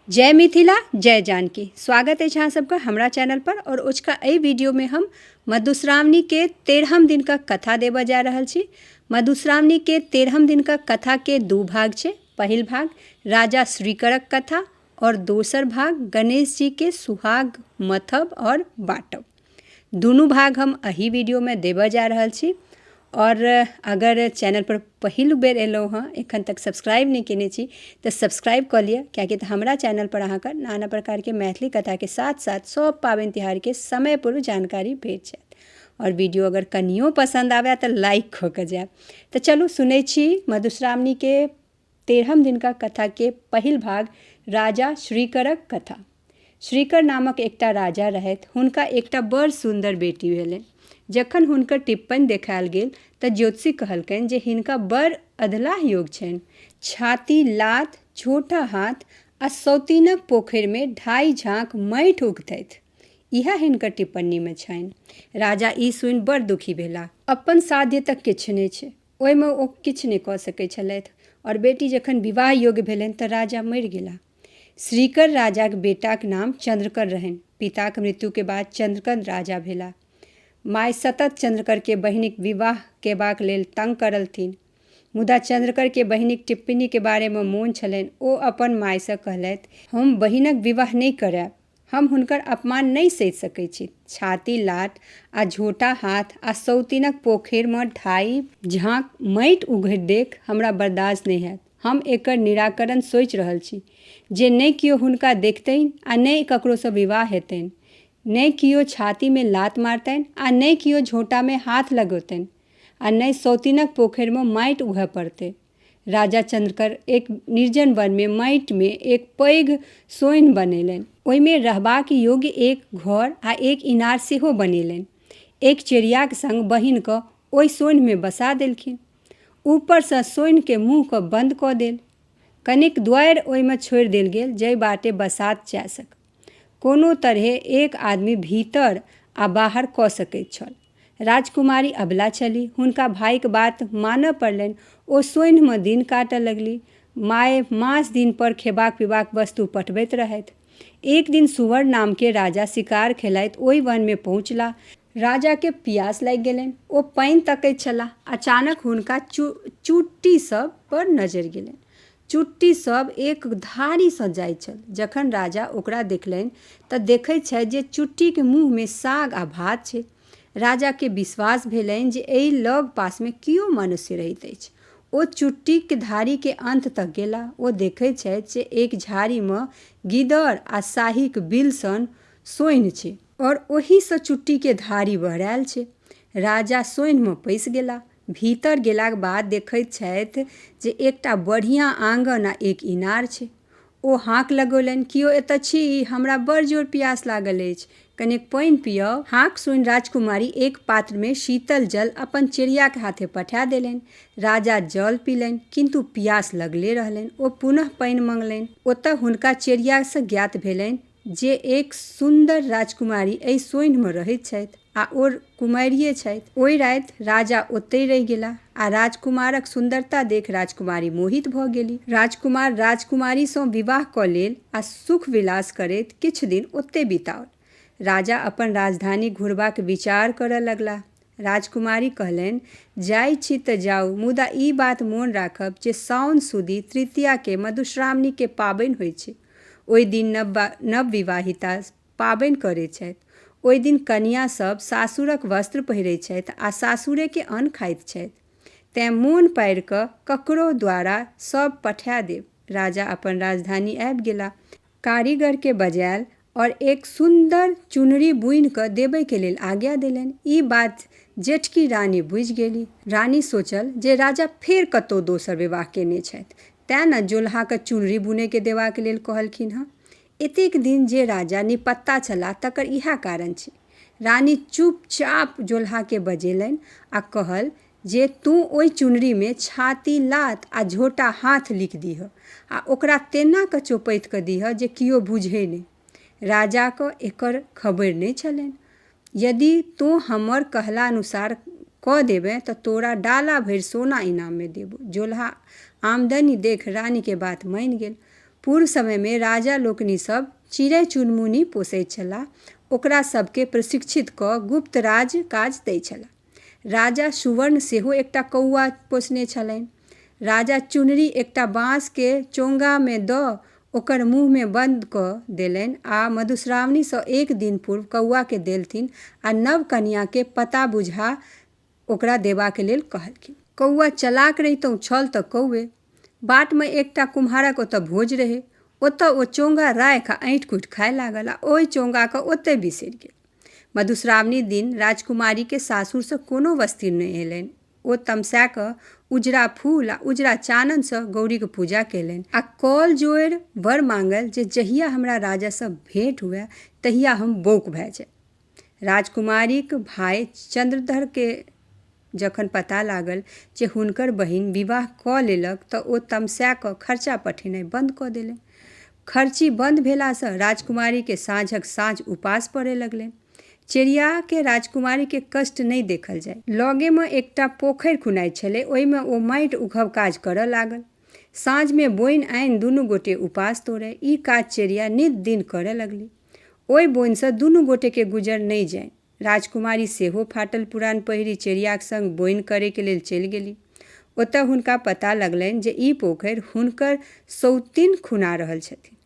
जय मिथिला जय जानकी स्वागत अछि अहाँ सबके हमरा चैनल पर और ओझका एहि वीडियो में हम मधुश्रावणी के तेरहम दिन का कथा देबऽ जा रहल छी मधुश्रावणी के तेरहम दिन का कथा के दू भाग छै पहिल भाग राजा श्रीकरक कथा और दोसर भाग गणेश जी के सुहाग मथब और बाँटब दुनू भाग हम एहि वीडियोमे देबऽ जा रहल छी आओर अगर चैनलपर पहिल बेर एलहुँ हँ एखन तक सब्सक्राइब नहि केने छी तऽ सब्सक्राइब कऽ लिअ कियाकि तऽ हमरा चैनलपर अहाँके नाना प्रकारके मैथिली कथाके साथ साथ सभ पाबनि तिहारके समय पूर्व जानकारी भेट जायत आओर वीडियो अगर कनियो पसन्द आबय तऽ लाइक कऽ कऽ जायब तऽ चलू सुनै छी मधुश्रावणीके तेरहम दिनका कथा के पहिल भाग राजा श्रीकरक कथा श्रीकर नामक एकटा राजा रहथि हुनका एकटा बड़ सुन्दर बेटी भेलनि जखन हुनकर टिप्पण देखायल गेल तऽ ज्योतिषी कहलकनि जे हिनका बड़ अधलाह योग छनि छाती लात छोटा हाथ आ सौतीनक पोखरिमे ढाई झाँक माटि उगतथि इएह हिनकर टिप्पणीमे छनि राजा ई सुनि बड़ दुखी भेला अपन साध्य तऽ किछु नहि छै ओहिमे ओ किछु नहि कऽ सकै छलथि आओर बेटी जखन विवाह योग्य भेलनि तऽ राजा मरि गेलाह श्रीकर राजाक बेटाक नाम चन्द्रकर रहनि पिताक मृत्युके बाद चन्द्रकर राजा भेलाह माय सतत चन्द्रकरके बहिनीक विवाह केबाक लेल तंग करलथिन मुदा चन्द्रकरके बहिनीक टिप्पणीके बारेमे मोन छलनि ओ अपन मायसँ कहलथि हम बहिनक विवाह नहि करायब हम हुनकर अपमान नहि सहि सकैत छी। छाती लात आ झोंटा हाथ आ सौतिनक पोखैरमे ढाइ झाँक माटि उघैत देख हमरा बरदास नहि हएत। हम एकर निराकरण सोचि रहल छी जे ने कियो हुनका देखतनि आ ने ककरोसँ विवाह हेतनि। ने कियो छातीमे लात मारतनि आ ने कियो झोंटामे हाथ लगौतनि आ ने सौतिनक पोखैरमे माटि उघए पड़तै। राजा चन्द्रकर एक निर्जन वनमे माटिमे एक पैघ सोनि बनेलनि ओहिमे रहबाक योग्य एक घर आ एक इनार सेहो बनेलनि एक चिड़ियाक संग बहिनके ओहि सोनिमे बसा देलखिन ऊपरसँ सोनिके मुँहके बन्द कऽ देल कनिक द्वारि ओहिमे छोड़ि देल गेल जाहि बाटे बसात जा सक कोनो तरहे एक आदमी भीतर आ बाहर कऽ सकैत छल। राजकुमारी अबला छलि। हुनका भाइक बात मानऽ पड़लनि। ओ सोन्हिमे दिन काटऽ लगली। माए मास दिनपर खेबाक-पीबाक वस्तु पठबैत रहथि। एक दिन सुवर नामके राजा शिकार खेलाइत ओइ वनमे पहुँचला। राजाके पियास लागि गेलनि ओ पानि तकैत छलाह अचानक हुनका चु चुट्टी सब पर नजरि गेलनि चुट्टी सब एक धारीसँ जाइत छल जखन राजा ओकरा देखलनि तऽ देखैत छथि जे चुट्टीके मुँहमे साग आ भात छै राजाके विश्वास भेलनि जे एहि लग पासमे केओ मनुष्य रहैत अछि ओ चुट्टीके धारीके अन्त तक गेला ओ देखैत छथि जे एक झाड़ीमे गिदर आ शाहीक बिल सन सोन्हि छै आओर ओहिसँ चुट्टीके धारी बहरायल छै राजा सोनिमे पैसि गेला भीतर गेलाक बाद देखैत छथि जे एकटा बढ़िआँ आङ्गन आ एक इनार छै ओ हाँक लगौलनि केओ एतऽ छी हमरा बड़ जोर प्यास लागल अछि कनेक पानि पियाउ हाँक सुनि राजकुमारी एक पात्रमे शीतल जल अपन चिड़ियाके हाथे पठा देलनि राजा जल पीलनि किन्तु प्यास लगले रहलनि ओ पुनः पानि मङ्गलनि ओतऽ हुनका चिड़ियासँ ज्ञात भेलनि जे एक सुन्दर राजकुमारी एहि सोन्हिमे रहैत छथि आ ओ कुमारिये छथि। ओहि राति राजा ओतहि रहि गेलाह आ राजकुमारक सुन्दरता देख राजकुमारी मोहित भऽ गेलि। राजकुमार राजकुमारीसँ विवाह कऽ लेल आ सुख विलास करैत किछु दिन ओतहि बिताओल। राजा अपन राजधानी घुरबाक विचार करऽ लगलाह। राजकुमारी कहलैन, जाइ छी तँ जाउ, मुदा ई बात मोन राखब जे साओन सुदी तृतीयाकेँ मधुश्रावणीकेँ पाबैन होइछ। ओइ दिन नवविवाहिता पाबैन करै छैथ। ओइ दिन कनियाँ सभ सासुरक वस्त्र पहिरै छैथ आ सासुरेकेँ अन्न खाइत छैथ। तँए मोन पाड़ि कऽ ककरो द्वारा सभ पठा देब। राजा अपन राजधानी आबि गेला। कारीगरकेँ बजाएल आओर एक सुन्दर चुनरी बुनि कऽ देबैके लेल आज्ञा देलनि ई बात जेठकी रानी बुझि गेली रानी सोचल जे राजा फेर कतौ दोसर विवाह केने छथि तैँ ने जोलहाके चुनरी बुनैके देबाके लेल कहलखिन हँ एतेक दिन जे राजा निपत्ता छलाह तकर इएह कारण छी रानी चुपचाप जोलहाके बजेलनि आओर कहल जे तोँ ओहि चुनरीमे छाती लात आ झोटा हाथ लिखि दीहऽ आ ओकरा तेना कऽ चोपैत कऽ दीहऽ जे कियो बुझए नहि। राजाकँ एकर खबरि नहि छलनि। यदि तोँ हमर कहलानुसार कऽ देबेँ तँ तोरा डाला भरि सोना इनाममे देबौ। जोलहा आमदनी देखि रानीकेँ बात मानि गेल। पूर्व समयमे राजा लोकनि सभ चिड़ै-चुनमुनी पोसैत छलाह। ओकरा सभकेँ प्रशिक्षित कऽ गुप्त राज-काज दैत छलाह। राजा सुवर्ण सेहो एकटा कौआ पोसने छलनि। राजा चुनरी एकटा बाँस के चोंगा मे दऽ ओकर मुँह मे बंद कऽ देलनि आ मधुश्रावणी सँ एक दिन पूर्व कौआ के देलथिन आ नव कनियाँ के पता बुझा ओकरा देबाक लेल कहलखिन। कौआ चलाक रहितहुँ छल तँ कौए। बाटमे एकटा कुम्हारक ओतऽ भोज रहै ओतऽ ओ चोंगा राखि आ ऐँठि कुटि खाय लागल आ ओहि चोंगाके ओतै बिसरि गेल मधुश्रावणी दिन राजकुमारीके सासुरसँ कोनो वस्त्र नहि एलनि ओ तमसा कऽ उजरा फूल आ उजरा चाननसँ गौरीके पूजा केलनि आ कल जोड़ि वर माँगल जे जहिया हमरा राजासँ भेंट हुए तहिया हम बौक भए जाय राजकुमारीक भाय चन्द्रधरकेँ जखन पता लागल जे हुनकर बहिन विवाह कऽ लेलक तँ ओ तमसा कऽ खर्चा पठेनाइ बन्द कऽ देलनि। खर्ची बन्द भेलासँ राजकुमारीकेँ साँझक साँझ उपास पड़ए लगलनि। चेरियाकेँ राजकुमारीक कष्ट नहि देखल जाए। लगेमे एकटा पोखरि खुनाइत छलै। ओहिमे ओ माटि उघब काज करए लागल। साँझमे बोनि आनि दुनू गोटे उपास तोड़ए। ई काज चेरिया नित दिन करए लगली। ओहि बोनिसँ दुनू गोटेकेँ गुजर नहि जानि। राजकुमारी सेहो फाटल पुरान पहिरि चेरियाक संग बोनि करैक लेल चलि गेली। ओतए हुनका पता लगलनि जे ई पोखरि हुनकर सौतिन खुना रहल छथिन।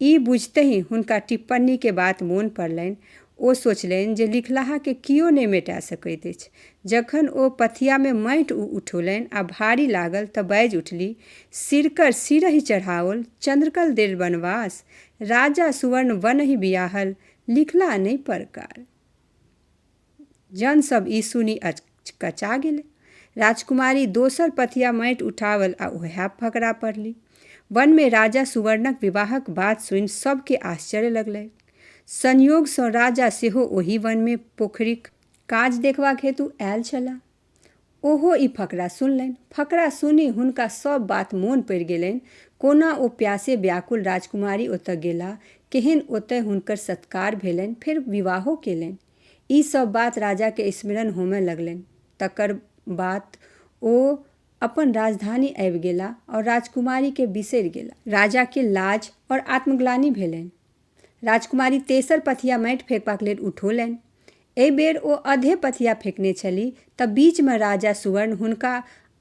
ई बुझितहि हुनका टिप्पणीक बात मोन पड़लनि। ओ सोचलनि जे लिखलाहाकेँ कियो नहि मेटा सकैत अछि। जखन ओ पथियामे माटि उठौलनि आ भारी लागल तँ बाजि उठली, सिरकर सिरहि चढ़ाओल, चन्द्रकल देल वनवास। राजा सुवर्ण वनहि बियाहल, लिखला नहि परकार। जन सब ई सुनि अचकचा गेलै। राजकुमारी दोसर पथिया माटि उठावल आ ओहै फकरा पढ़ली। वनमे राजा सुवर्णक विवाहक बात सुनि सबके आश्चर्य लगलैक। संयोगसँ राजा सेहो ओहि वनमे पोखरिक। काज देखबाक हेतु आयल छलाह। ओहो ई फकरा सुनलनि। फकरा सुनि हुनका सभ बात मोन पड़ि गेलनि। कोना ओ प्यासे व्याकुल राजकुमारी ओतय गेलाह, केहेन ओतय हुनकर सत्कार भेलनि, फेर विवाहो केलनि। ई सभ बात राजा केँ स्मरण होमय लगलनि। तकर बात ओ अपन राजधानी आबि गेलाह और राजकुमारी केँ बिसरि गेलाह। राजा केँ लाज और आत्मग्लानि भेलनि। राजकुमारी तेसर पथिया माटि फेकबाक लेल उठौलनि। एहि बेर ओ अधे पथिया फेकने छलि तँ बीच मे राजा सुवर्ण हुनका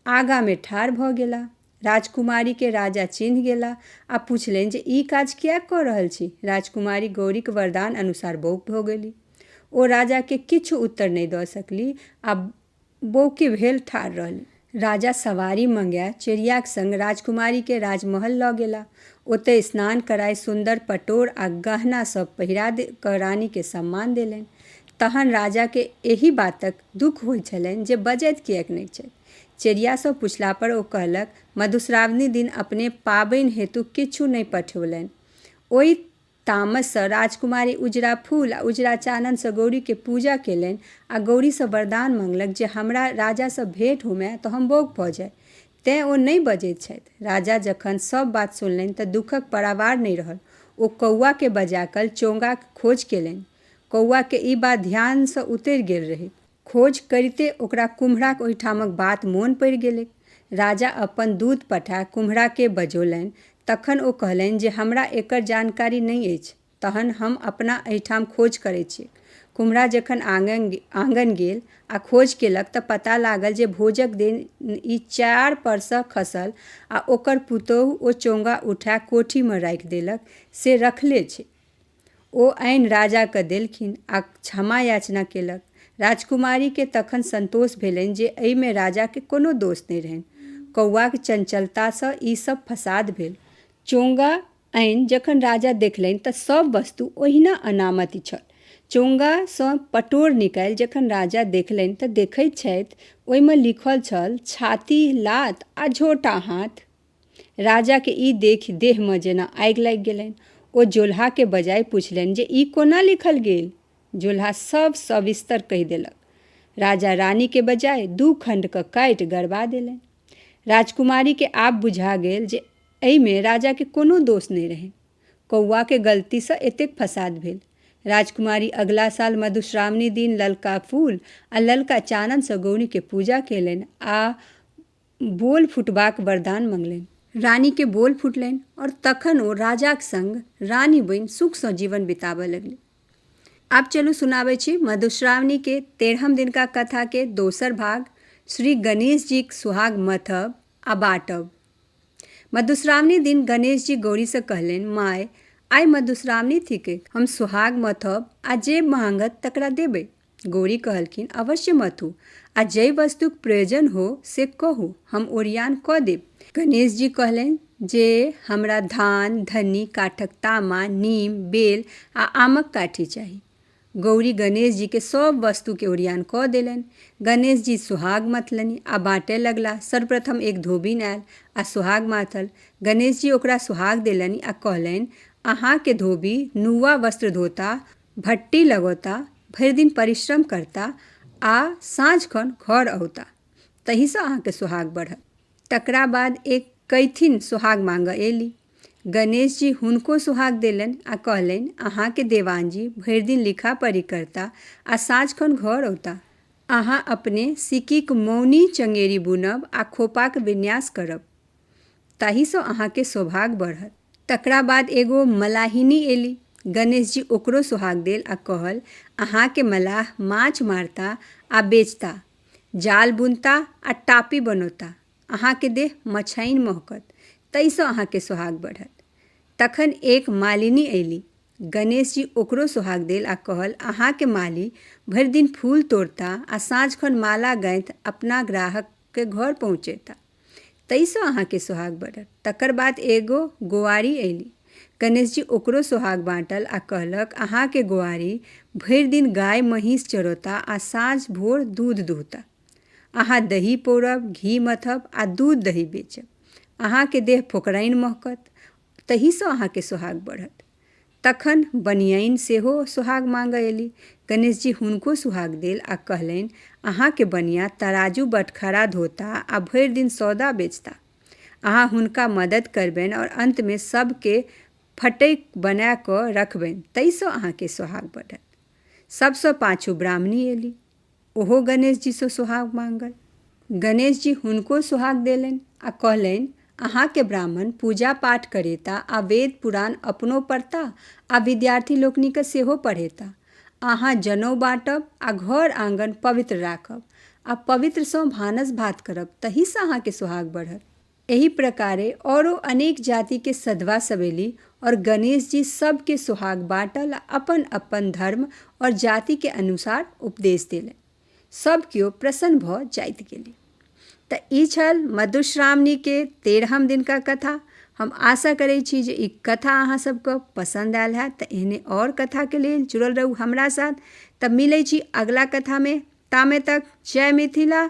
आगा मे ठाढ़ भ गेलाह। राजकुमारी केँ राजा चिन्ह गेलाह आ पुछलनि जे ई काज किएक क रहल छी? राजकुमारी गौरीक वरदान अनुसार बौक भ गेलीह। ओ राजा केँ किछु उत्तर नहि द सकलीह आ बौके भेल ठाढ़ रहलि। राजा सवारी मंगाए चेरियाक संग राजकुमारीकेँ राजमहल लऽ गेला। ओतए स्नान कराए सुन्दर पटोर आ गहना सभ पहिरा कऽ रानीकेँ सम्मान देलनि। तहन राजाकेँ एहि बातक दुख होइत छलनि जे बजैत किएक नहि छथि। चेरियासँ पुछलापर ओ कहलक मधुश्रावणी दिन अपने पाबनि हेतु किछु नहि पठौलनि। ओहि। तामससँ राजकुमारी उजरा फूल आ उजरा चाननसँ गौरीके पूजा केलनि आ गौरीसँ वरदान मंगलक जे हमरा राजासँ भेंट होमए तँ हम बौक भऽ जाइ। तेँ ओ नहि बजैत छथि। राजा जखन सभ बात सुनलनि तँ दुखक परावार नहि रहल। ओ कौआकेँ बजाकल चोंगाक खोज केलनि। कौआकेँ ई बात ध्यानसँ उतरि गेल रहैक। खोज करिते ओकरा कुम्हराक ओहिठामक बात मोन पड़ि गेलैक। राजा अपन दूत पठा कुम्हराकेँ बजौलनि। तखन ओ कहलनि जे हमरा एकर जानकारी नहि अछि। तहन हम अपना एहिठाम खोज करैत छियैक। कुम्हरा जखन आँगन गेल आ खोज केलक तँ पता लागल जे भोजक दिन ई चार परसँ खसल आ ओकर पुतोहु ओ चोंगा उठा कोठीमे राखि देलक से रखले छैक। ओ आनि राजा कँ देलखिन आ क्षमायाचना केलक। राजकुमारी केँ तखन संतोष भेलनि जे एहि मे राजा केँ कोनो दोष नहि रहनि। कौआक चंचलता सँ ई सभ फसाद भेल। चोंगा आनि जखन राजा देखलनि तँ सभ वस्तु ओहिना अनामति छल। चोंगा सँ पटोर निकालि जखन राजा देखलनि तँ देखैत छथि ओहि मे लिखल छल छाती लात आ झोंटा हाथ। राजाकेँ ई देखि देहमे जेना आगि लागि गेलनि। ओ जोलहाकेँ बजाइ पुछलनि जे ई कोना लिखल गेल? जोलहा सभ सविस्तर कहि देलक। राजा रानीकेँ बजाइ दू खण्ड कऽ काटि गड़बा देलनि। राजकुमारीकेँ आब बुझा गेल जे एहिमे राजाकेँ कोनो दोष नहि रहनि। कौआक गलतीसँ एतेक फसाद भेल। राजकुमारी अगिला साल मधुश्रावणी दिन ललका फूल आ ललका चाननसँ गौरीकेँ पूजा केलनि आ बोल फुटबाक वरदान मंगलनि। रानी के बोल फुटलनि और तखन ओ राजाक संग रानी बनि सुख सँ जीवन बिताबय लगली। आब चलू सुनाबै छी मधुश्रावणी के तेरहम दिनका कथा के दोसर भाग श्री गणेश जी क सुहाग मथब आ बाँटब। मधुश्रावणी दिन गणेश जी गौरी सँ कहलनि माय आइ मधुश्रावणी थिकैक हम सुहाग मथब आ जे माँगत तकरा देबै। गौरी कहलखिन, अवश्य मातु! आ जइ वस्तुक प्रयोजन हो से कहू, हम ओरियान कऽ देब। गणेश जी कहलनि जे हमरा धान, धन्नी, काठक तामा, नीम, बेल आ आमक काठी चाही। गौरी गणेश जी केँ सभ वस्तु केँ ओरियान कऽ देलनि। गणेश जी सोहाग मथलनि आ बाँटए लगलाह। सर्वप्रथम एक धोबिन आयल आ सोहाग माथल। गणेश जी ओकरा सोहाग देलनि आ कहलनि, अहाँ केँ धोबी, नुआ वस्त्र धोता, भट्टी लगौता भरि दिन परिश्रम करता आ साँझ खन घर औता तहीसँ अहाँके सोहाग बढ़त तकरा बाद एक कैथिन सोहाग माँगऽ एली गणेश जी हुनको सोहाग देलनि आ कहलनि अहाँके देवान जी भरि दिन लिखा पढ़ी करता आ साँझ खन घर औता अहाँ अपने सिक्कीक मौनी चंगेरी बुनब आ खोपाक विन्यास करब ताहिसँ अहाँके सौभाग्य बढ़त तकरा बाद एगो मलाहिनी एली गणेश जी ओकरो सुहाग देल आ कहल अहाँके मलाह माछ मारता आ बेचता जाल बुनता आ टापी बनौता अहाँके देह मछाइन महकत ताहिसँ अहाँके सुहाग बढ़त तखन एक मालिनी अयली गणेश जी ओकरो सुहाग देल आ कहल अहाँके माली भरि दिन फूल तोड़ता आ साँझ खन माला गाँथि अपना ग्राहकके घर पहुँचेता तइसँ अहाँके सोहाग बढ़त। तकर बाद एगो गोआरि अयली। गणेशजी ओकरो सोहाग बाँटल आ कहलक, अहाँके गोआरि भरि दिन गाय-महीस चरौता आ साँझ-भोर दूध दुहता। अहाँ दही पौरब, घी मथब आ दूध-दही बेचब। अहाँके देह फोकराइन महकत। तहीसँ अहाँके सोहाग बढ़त। तखन बनियनि सेहो सोहाग माँगऽ अयली। गणेशजी हुनको सुहाग देल आ कहलनि, अहाँके बनिया तराजू, बटखरा धोता आ भरि दिन सौदा बेचता। अहाँ हुनका मदति करबनि आओर अन्तमे सभके फटकि बना कऽ रखबनि तइसँ अहाँके सोहाग बढ़त। सभसँ पाछू ब्राह्मणी अयली। ओहो गणेशजीसँ सोहाग मांगल गणेशजी हुनको सोहाग देलनि आ कहलनि अहाँके ब्राह्मण पूजा पाठ करेता आ वेद पुराण अपनो पढ़ता आ विद्यार्थी लोकनिकेँ सेहो पढ़ेता अहाँ जनौ बाँटब आ घर आँगन पवित्र राखब आ पवित्रसँ भानस भात करब तहीसँ अहाँके सोहाग बढ़त एही प्रकारे औरो अनेक जाति के सधवा सब एली और गणेश जी सब के सोहाग बाँटल आ अपन अपन धर्म और जाति के अनुसार उपदेश देले। सब केओ प्रसन्न भऽ जाइत गेली। तऽ ई छल मधुश्रावणी के तेरहम दिन का कथा। हम आशा करै छी जे ई कथा अहाँ सबके पसंद आयल है तऽ एहने और कथा के लेल जुड़ल रहू हमरा साथ। तऽ मिलै छी अगला कथा में। तामे तक जय मिथिला।